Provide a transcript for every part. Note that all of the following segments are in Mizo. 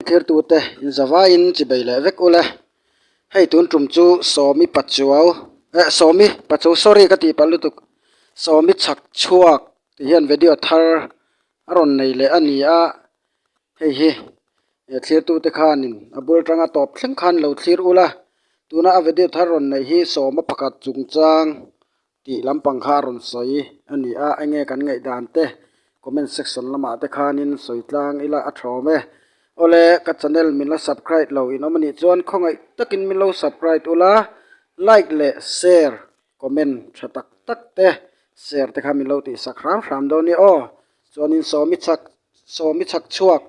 Thirtute inzavain chi bei leh vek ule, hei tun tum chu sawmi pachuau eh sawmi pachu sorry ka tih pah lutuk sawmi chhak chhuak tih hian video thar a rawn nei leh a ni a, hei hi he thirtute khanin a bul tanga tawp thleng khan lo thlir ula tuna a video thar rawn neih hi sawma pakhat chungchang Tih lampang kha a rawn sawi a ni a, enge kan ngaihdan te comment section lamah te khanin sawi tlang ila a thawm e. Awle ka channel min la subcrite lo in awm a nih chuan khawngaih takin min lo subcrite ula like leh share comment tha tak tak te share te kha min lo tih sak hram hram dawn nia aw. Chuanin sawmi chak sawmi chhak chhuak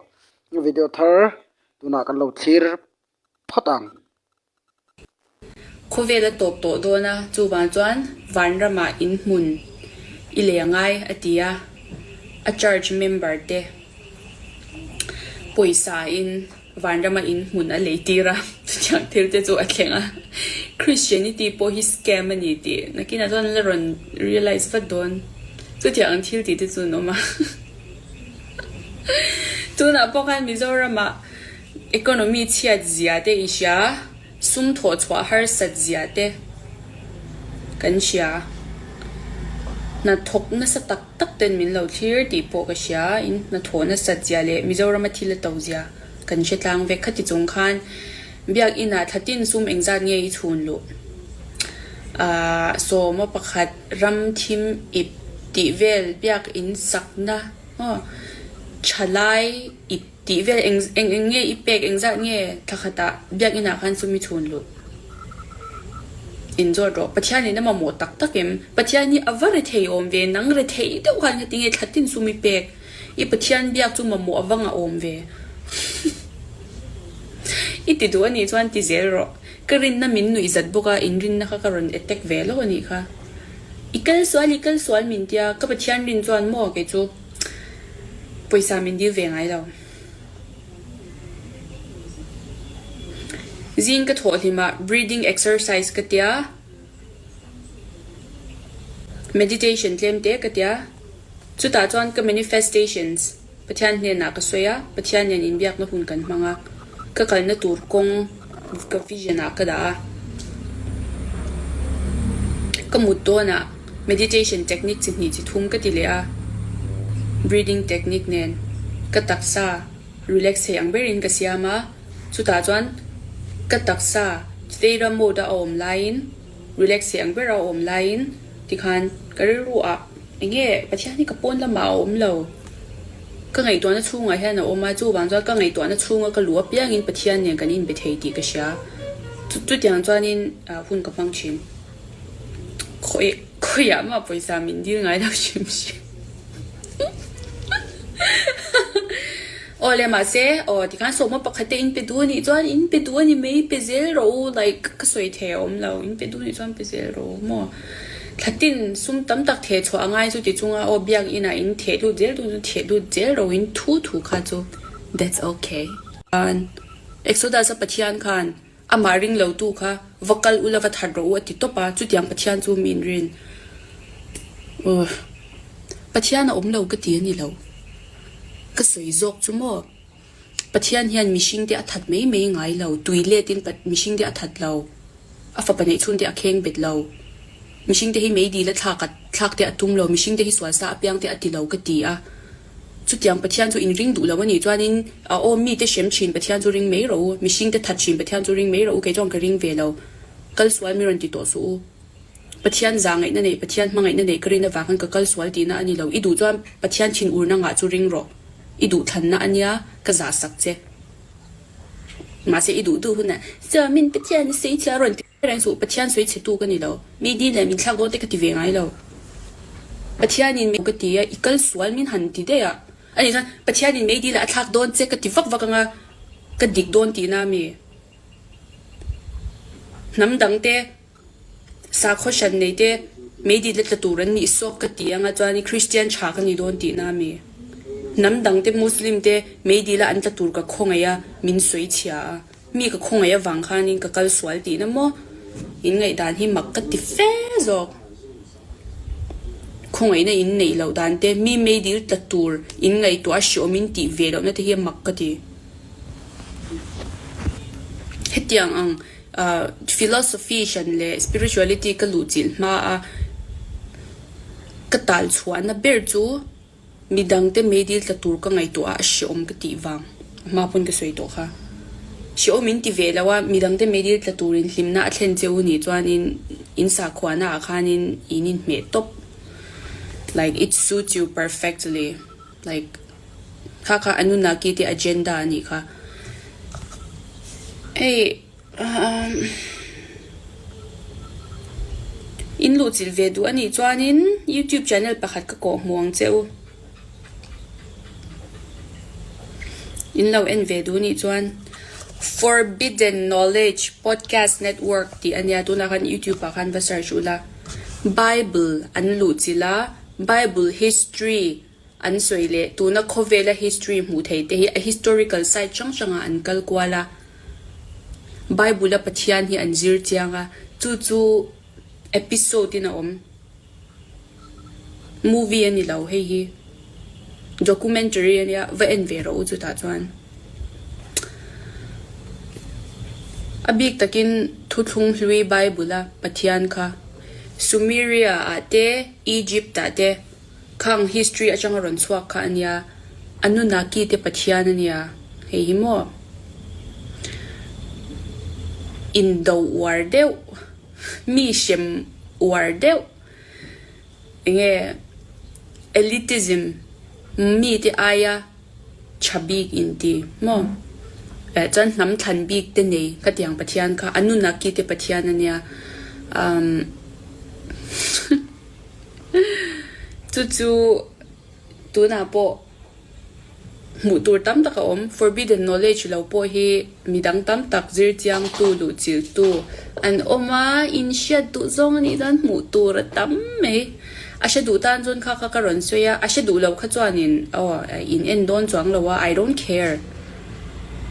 video thar tunah kan lo thlir phawt ang. Khawvel a tawp tawh dawn a, chuvang chuan Vanramah in hmun i leh ngai a ti a, a church member te pawisa-in Vanrama in hmun a lei tir a, chutiang thil te chu a thleng a, Christianity pawh hi scam a ni tih nakinah chuan la rawn realise vat dawn, chutiang ang thil tih te chu an awm a, tunah pawh khan Mizoramah Economy chhiat zia te i hria, sumthawh chhuah harsat zia te kan hria. Hnathawk nasa tak tak ten min lo thlir tih pawh ka hria. In hnathawh nasat zia leh Mizorama thil a to zia kan hre tlang vek. Khati chung khan Biakinah thla tin sum engzat nge i chhun luh? Aah sawma pakhat ram thim ip tih vel biak in sakna huh? Thalai ip. Tih vel eng eng eng nge i pek eng zat nge thla khatah biakinn ah khan sumi chhun luh in zawt rawh Pathian in a mamawh tak tak em Pathian hi a va rethei awm ve nang rethei deuh khan ka ti nge thla tin sumi pek i Pathian biak chu mamawh a va ngah awm ve i ti duh anih chuan ti zel rawh ka rinna min nuih zat bawk a in rinna kha ka rawn attack ve lo anih kha i kal sual i kal sual min tia ka Pathian rin chuan maw kei chu. pawisa min dil ve ngai lo. Zing ka thawh hlim ah breathing exercise ka tia, meditation tlem te ka tia. Chutah chuan ka manifestations Pathian hnenah ka sawi a, Pathian nen inbiakna hun kan hmang a, ka kalna tur kawng. Ka vision ah ka dah a, ka mut dawn ah meditation technique chi hnih chi thum ka ti leh a, breathing technique nen ka taksa relax theih ang ber in ka siam a, chutah chuan ka taksa theta mode a awm lai in relax theih ang ber a awm lai in tikhan ka rilru ah enge Pathian hi ka pawn lamah a awm lo. Ka ngaihtuahna chhungah hian a awm a, chuvang chuan ka ngaihtuahna chhunga ka luh apiangin Pathian nen kan inbe thei tih ka hria. Chu chutiang chuanin hun ka hmang thin. Khawi khawiah mah pawisa min dil ngai lo hrim hrim. Aw le mahse aw tikhan sawma pakhat in pe duh anih chuan in pe duh ani mai pe zel rawh u like ka sawi thei a awm lo in pe duh anih chuan pe zel rawh u maw. Thlatin sum tam tak theh chhuah a ngai chu tichung a aw biak inah in theh lut zel dun chu theh lut zel ro in thu thu kha chu that's ok. Chuan Exodus-a Pathian khan amah ring lo tu kha va kal u la va that rawh u a ti tawp a, chutiang Pathian chu min rin uh Pathian a awm lo ka ti a ni lo, ka sawi zawk chu maw? Pathian hian mihringte a that mai mai ngai lo, tui letin mihringte a that lo, a fapa neih chhunte a kheng bet lo, mihringte hi meidi la thlak a thlakte a tum lo, mihringte hi sualsa a piangte a ti lo ka ti a. Chutiang Pathian chu in ring duh lo a nih chuanin a awm mite hrem thin Pathian chu ring mai ro u, mihringte that thin Pathian chu ring mai ro u, kei chu ang ka ring ve lo, kal sual mi rawn ti tawh suh u. Pathian za ngaihna nei, Pathian hma ngaihna nei ka rin avang khan ka kal sual tihna a ni lo. I duh chuan Pathian thin ur na ngah chu ring rawh. I duh thlanna a nia, ka za sak che. Mahse i duhduh hunah Sir, min Pathian a sawi che a rawn ti ber ang chu, Pathian sawi chetu ka ni lo. Mi din leh min thlak dawte ka ti ve ngai lo. Pathianin mei ka ti a, i kal sual min han ti daih a. Ani chuan Pathianin mei dil ah a thlak dawn che ka ti vak vak anga ka dik dawn tihna a mi? Hnam dangte Sakhaw hran nei te meidit la tla tur an nih sawk ka ti anga chuan i Kristian tha ka ni dawn tih na a mi? Hnam dang te Muslim te meidit la an tla tur ka khawngaih a min sawi chhia a, mi ka khawngaih avang khanin ka kal sual tihna maw? In ngaihdan hi mak ka ti fe zawk. Khawngaihna in neih loh dan te, mi meidil tla tur in ngaihtuah a hreawm in tih ve lohna te hi a mak ka ti. Hetiang ang philosophy hran leh spirituality ka luh chilh hma a ka tal chhuahna ber chu, Mi dangte meidil tla tur ka ngaihtuah a, a hreawm ka tih vang a hma pawn ka sawi tawh kha. Hreawm in ti ve lo a, mi dangte meidil tla turin hlimna a thlen che u nih chuanin in sakhuanaah khanin in inhmeh tawp like it suits you perfectly like hakha Anunnaki te agenda a nih kha. Hei. In luh chilh ve duh anih chuanin YouTube channel pakhat ka kawh hmu ang che u. In lo en ve duh anih chuan Forbidden Knowledge Podcast Network tih a nia, tunah khan YouTube ah khan va search u la. Bible an luh chilh a, Bible History. An sawi leh tuna khawvela history hmuh theih te hi a historical site hrang hrangah an kal kual a, Bible-a Pathian hi an zir chiang a, chu chu episode-in a awm, movie a ni lo, hei hi documentary a nia, va en ve rawh u chutah chuan. A bik takin thuthlung hlui Bible-a Pathian kha Sumeria-ah te, Egypt-ah te, Khang history atanga rawn chhuak kha a nia, a nuna kite Pathian a nia, hei hi maw? Indoh uar deuh, mi hrem uar deuh, enge elitism mite aia tha bik in ti maw? Eh chuan hnam thlan bik te nei ka ti ang Pathian kha a nuna kite Pathian a nia umm. chu chu tunah pawh hmuh tur tam tak a awm forbidden knowledge lo pawh hi mi dang tam tak zir chiang tu luh chilh tu an awm a in hriat duh zawng anih chuan hmuh tur a tam mai a hre duh tan chuan kha kha ka rawn sawi a a hre duh lo kha chuan in aw in en dawn chuang lo a I don't care.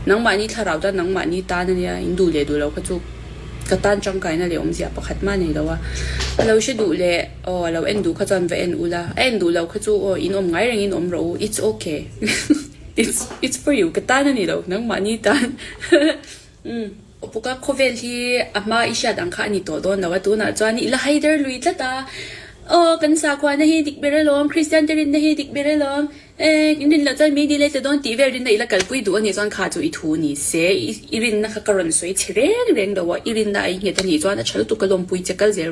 Nangmahni thlarau tan nangmahni tan a nia, in duh leh duh lo kha chu ka tan tangkaina leh awmzia pakhat hma nei lo a, a lo hre duh leh aw a lo en duh kha chuan va en ula, a en duh lo kha chu aw in awm ngai rengin awm rawh u, it's ok it's it's for you ka tan a ni lo, nangmahni tan umm. Upuka khawvel hi a hma i hriat ang kha a ni tawh dawn lo a, tunah chuan i la haider lui tlat a, aw kan sakhuana hi dik ber alawm, Kristiante rinna hi dik ber alawm, Eng, in rinloh chuan mei dihlei tle dawn tih vel rinna ila kalpui duh anih chuan kha chu i thu ni se, i rinna kha ka rawn sawi chhi reng reng lo a, i rinna a i nghet anih chuan a tha lutuk ka lawmpui che kal zel.